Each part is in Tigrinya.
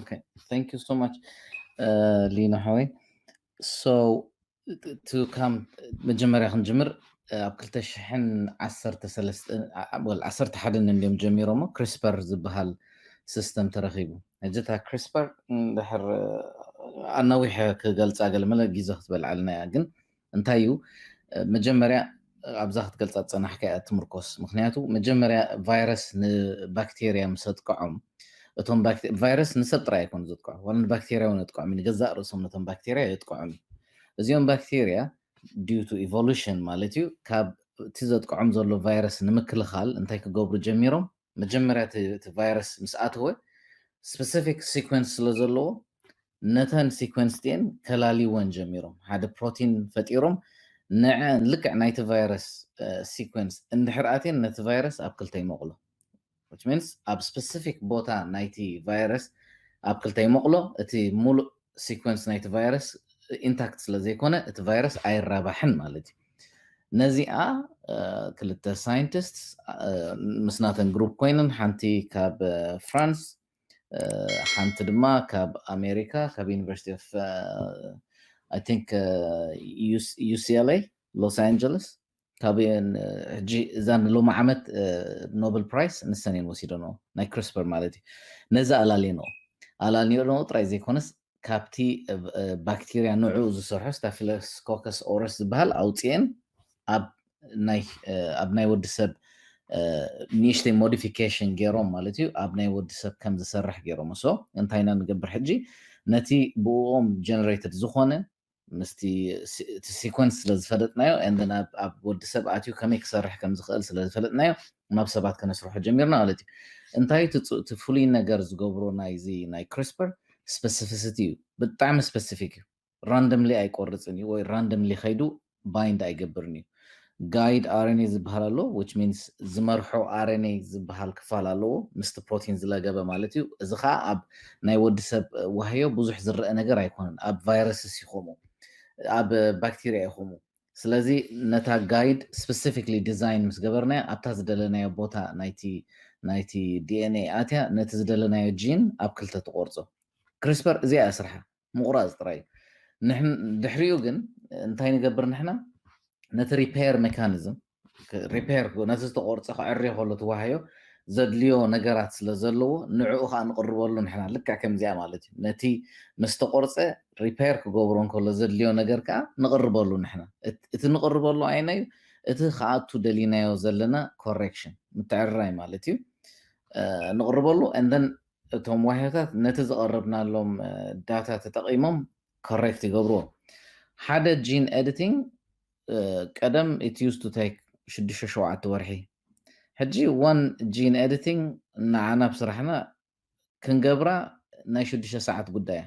Okay, thank you so much, uh, Lina Hoy. So, to come, መጀመርያ ክንጅምር ኣብ 2011 እንዲዮም ጀሚሮሞ ክሪስፐር ዝበሃል ሲስተም ተረኺቡ ሕጂ እታ ክሪስፐር ድሕር ኣናዊሐ ክገልፃ ገለመለ ግዜ ክትበልዓልና እያ ግን እንታይ እዩ መጀመርያ ኣብዛ ክትገልጻ ዝጸናሕካ እያ ትምርኮስ ምክንያቱ መጀመርያ ቫይረስ ንባክቴርያ ምስ ኣጥቅዖም እቶም ባክቴ- ቫይረስ ንሰብ ጥራይ ኣይኮኑ ዘጥቅዖ ዋላ ንባክቴርያ እውን የጥቅዖም እዩ። ንገዛእ ርእሶም ነቶም ባክቴርያ የጥቅዖም እዩ እዚኦም ባክቴርያ ዲዩ ቱ ኢቮሉሽን ማለት እዩ ካብ እቲ ዘጥቅዖም ዘሎ ቫይረስ ንምክልኻል እንታይ ክገብሩ ጀሚሮም መጀመርያ እቲ ቫይረስ ምስ ኣተወ ስፐሲፊክ ሲኮንስ ስለ ዘለዎ ነተን ሲኮንስ ቲኤን ከላልይወን ጀሚሮም ሓደ ፕሮቲን ፈጢሮም ንዐን ልክዕ ናይቲ ቫይረስ ሲኮንስ እንድሕር ኣትየን ነቲ ቫይረስ ኣብ ክልተ ይመቕሎ which means ኣብ ስፐሲፊክ ቦታ ናይቲ ቫይረስ ኣብ ክልተ ይመቕሎ እቲ ሙሉእ ሲኮንስ ናይቲ ቫይረስ ኢንታክት ስለዘይኮነ እቲ ቫይረስ ኣይራባሕን ማለት እዩ ነዚኣ ክልተ ሳይንቲስት ምስናተን ግሩፕ ኮይነን ሓንቲ ካብ ፍራንስ ሓንቲ ድማ ካብ ኣሜሪካ ካብ ዩኒቨርሲቲ ኦፍ ኣይ ቲንክ ዩሲኤልኤ ሎስ ኣንጀለስ ካብ እየን ሕጂ እዛ ንሎሚ ዓመት ኖብል ፕራይስ ንሰን እየን ወሲደንኦ ናይ ክሪስፐር ማለት እዩ ነዛ ኣላልየንኦ ኣላልየንኦ ጥራይ ዘይኮነስ ካብቲ ባክቴርያ ንዕኡ ዝሰርሖ ስታፊሎኮከስ ኦረስ ዝበሃል ኣውፅኤን ኣብ ናይ ወዲ ሰብ ንእሽተይ ሞዲፊኬሽን ገይሮም ማለት እዩ ኣብ ናይ ወዲ ሰብ ከም ዝሰርሕ ገይሮም ሶ እንታይ ኢና ንገብር ሕጂ ነቲ ብእኦም ጀነሬትድ ዝኾነ ምስቲ እቲ ሲኮንስ ስለ ዝፈለጥናዮ and then ኣብ ኣብ ወዲ ሰብ ኣትዩ ከመይ ክሰርሕ ከም ዝኽእል ስለ ዝፈለጥናዮ ናብ ሰባት ከነስርሖ ጀሚርና ማለት እዩ እንታይ እቲ ጽ- እቲ ፍሉይ ነገር ዝገብሮ ናይዚ ናይ ክሪስፐር ስፐሲፊሲቲ እዩ ብጣዕሚ ስፐሲፊክ እዩ ራንደምሊ ኣይቆርጽን እዩ ወይ ራንደምሊ ከይዱ ባይንድ ኣይገብርን እዩ ጋይድ ኣረኔ ዝብሃል ኣሎ which means ዝመርሖ ኣረኔ ዝብሃል ክፋል ኣለዎ ምስቲ ፕሮቲን ዝለገበ ማለት እዩ እዚ ከዓ ኣብ ናይ ወዲ ሰብ ዋህዮ ብዙሕ ዝረአ ነገር ኣይኮነን ኣብ ቫይረስስ እዩ ከምኡ ኣብ ባክቴርያ እዩ ከምኡ ስለዚ ነታ ጋይድ ስፔሲፊክሊ ዲዛይን ምስ ገበርናያ ኣብታ ዝደለናዮ ቦታ ናይቲ ናይቲ ዲኤንኤ ኣትያ ነቲ ዝደለናዮ ጂን ኣብ ክልተ ትቆርፆ ክሪስፐር እዚኣ እያ ስርሓ ምቑራጽ ጥራይ እዩ። ድሕሪኡ ግን እንታይ ንገብር ንሕና ነቲ ሪፔር ሜካኒዝም ሪፔር ነቲ ዝተቆርፀ ክዕርዮ ከሎ ትዋሃዮ ዘድልዮ ነገራት ስለ ዘለዎ ንዕኡ ከዓ ንቕርበሉ ንሕና ልክዕ ከምዚኣ ማለት እዩ ነቲ ምስ ተቆርፀ ሪፔር ክገብሮ እንከሎ ዘድልዮ ነገር ከዓ ንቕርበሉ ንሕና እቲ ንቕርበሉ ኣይነ እዩ እቲ ከኣቱ ደሊናዮ ዘለና ኮሬክሽን ምትዕርራይ ማለት እዩ ንቕርበሉ እንደን እቶም ዋህዮታት ነቲ ዘቐረብናሎም ዳታ ተጠቒሞም ኮሬክት ይገብርዎ። ሓደ ጂን ኤዲቲንግ ቀደም ኢት ዩዝድ ቱ ቴክ ሽዱሽተ ሸውዓተ ወርሒ፣ ሕጂ ዋን ጂን ኤዲቲንግ ንዓና ኣብ ስራሕና ክንገብራ ናይ ሽዱሽተ ሰዓት ጉዳይ እያ።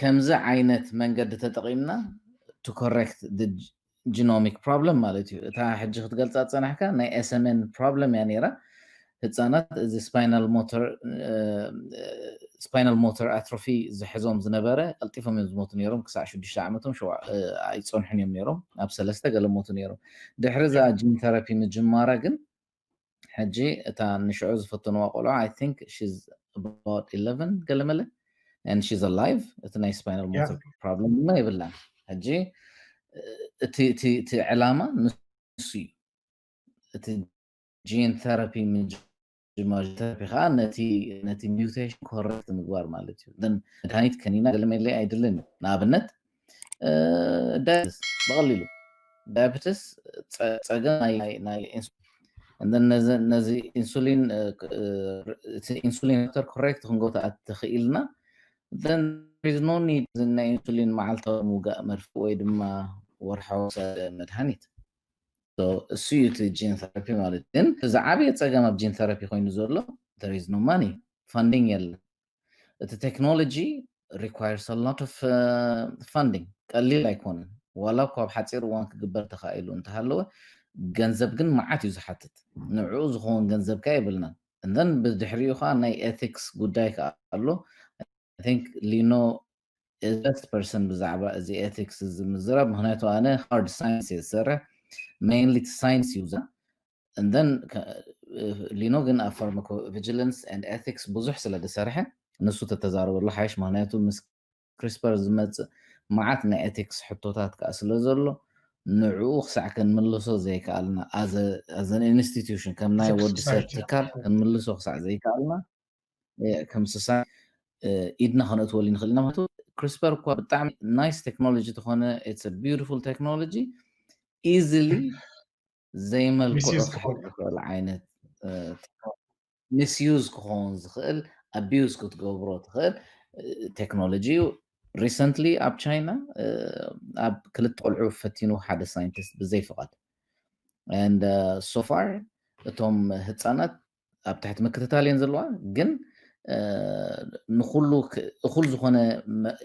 ከምዚ ዓይነት መንገዲ ተጠቒምና to correct the genomic problem ማለት እዩ። እታ ሕጂ ክትገልጻ ዝጸናሕካ ናይ SMN problem እያ ነይራ። ህጻናት እዚ spinal motor ስፓይናል ሞተር ኣትሮፊ ዝሕዞም ዝነበረ ቀልጢፎም እዮም ዝሞቱ ነይሮም ክሳዕ ሽዱሽተ ዓመቶም ኣይፀንሑን እዮም ነይሮም ናብ ሰለስተ ገለ ሞቱ ነይሮም ድሕሪ እዛ ጂን ተራፒ ምጅማራ ግን ሕጂ እታ ንሽዑ ዝፈተንዋ ቆልዑ I think she's about eleven ገለመለ and she's alive እቲ ናይ spinal Yeah. motor problem ድማ የብላን ሕጂ እቲ እቲ እቲ ዕላማ ንሱ እዩ እቲ ጂን ቴራፒ ምጅማር ቴራፒ ከዓ ነቲ ነቲ ሚውቴሽን ኮረክት ምግባር ማለት እዩ ግን መድሃኒት ከኒና ገለመለ ኣይድልን እዩ ንኣብነት ዳያብትስ ብቐሊሉ ዳያብትስ ፀገም ናይ ነዚ ኢንሱሊን ኢንሱሊን ተር ኮሬክት ክንገብቶ ተኽኢልና ኖ ኒድ ናይ ኢንሱሊን መዓልታዊ ምውጋእ መርፍእ ወይ ድማ ወርሓዊ መድሃኒት እሱ እዩ እቲ ጂን ተራፒ ማለት ግን እዚ ዓብየ ፀገም ኣብ ጂን ተራፒ ኮይኑ ዘሎ ተሪዝ ኖ ማኒ ፋንዲንግ የለን እቲ ቴክኖሎጂ ሪኳየርስ አ ሎት ኦፍ ፋንዲንግ ቀሊል ኣይኮነን ዋላ እኳ ኣብ ሓፂር እዋን ክግበር ተኻኢሉ እንተሃለወ ገንዘብ ግን መዓት እዩ ዝሓትት ንዕኡ ዝኸውን ገንዘብ ከ የብልናን እዘን ብድሕሪኡ ከዓ ናይ ኤቲክስ ጉዳይ ከዓ ኣሎ ቲንክ ሊኖ በስት ፐርሰን ብዛዕባ እዚ ኤቲክስ እዚ ምዝራብ ምክንያቱ ኣነ ሃርድ ሳይንስ እየ ዝሰርሕ ሜይንሊ ሳይንስ እዩ and then ሊኖ ግን ኣብ ፋርማኮ ቪጂለንስ and ethics ብዙሕ ስለ ዝሰርሐ ንሱ ተተዛረበሉ ሓይሽ ምክንያቱ ምስ ክሪስፐር ዝመጽእ መዓት ናይ ኤቲክስ ሕቶታት ከዓ ስለ ዘሎ ንዕኡ ክሳዕ ክንምልሶ ዘይከኣልና ኣዘን ኢንስቲትዩሽን ከም ናይ ወዲ ሰብ ትካል ክንምልሶ ክሳዕ ዘይከኣልና ከም ስሳ ኢድና ከነእትወሉ ንኽእል ኢና ማለት ክሪስፐር እኳ ብጣዕሚ ናይስ ቴክኖሎጂ ተኾነ ኢትስ ቢዩቲፉል ቴክኖሎጂ ኢዝሊ ዘይመልክዑ ክሕዝ ዝኽእል ዓይነት ሚስዩዝ ክኸውን ዝኽእል ኣቢዩዝ ክትገብሮ ትኽእል ቴክኖሎጂ እዩ። ሪሰንትሊ ኣብ ቻይና ኣብ ክልተ ቆልዑ ፈቲኑ ሓደ ሳይንቲስት ብዘይ ፍቓድ ሶፋር እቶም ህፃናት ኣብ ትሕቲ ምክትታል እየን ዘለዋ ግን ንኩሉ እኩል ዝኾነ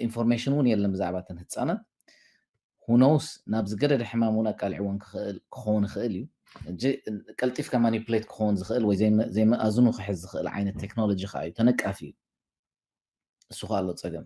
ኢንፎርሜሽን እውን የለን ብዛዕባ እተን ህፃናት ሁኖውስ ናብ ዝገደደ ሕማም እውን ኣቃልዕዎን ክኸውን ይኽእል እዩ እጂ ቀልጢፍካ ማኒፕሌት ክኸውን ዝኽእል ወይ ዘይመኣዝኑ ክሕዝ ዝኽእል ዓይነት ቴክኖሎጂ ከዓ እዩ ተነቃፊ እዩ እሱ ከዓ ኣሎ ፀገም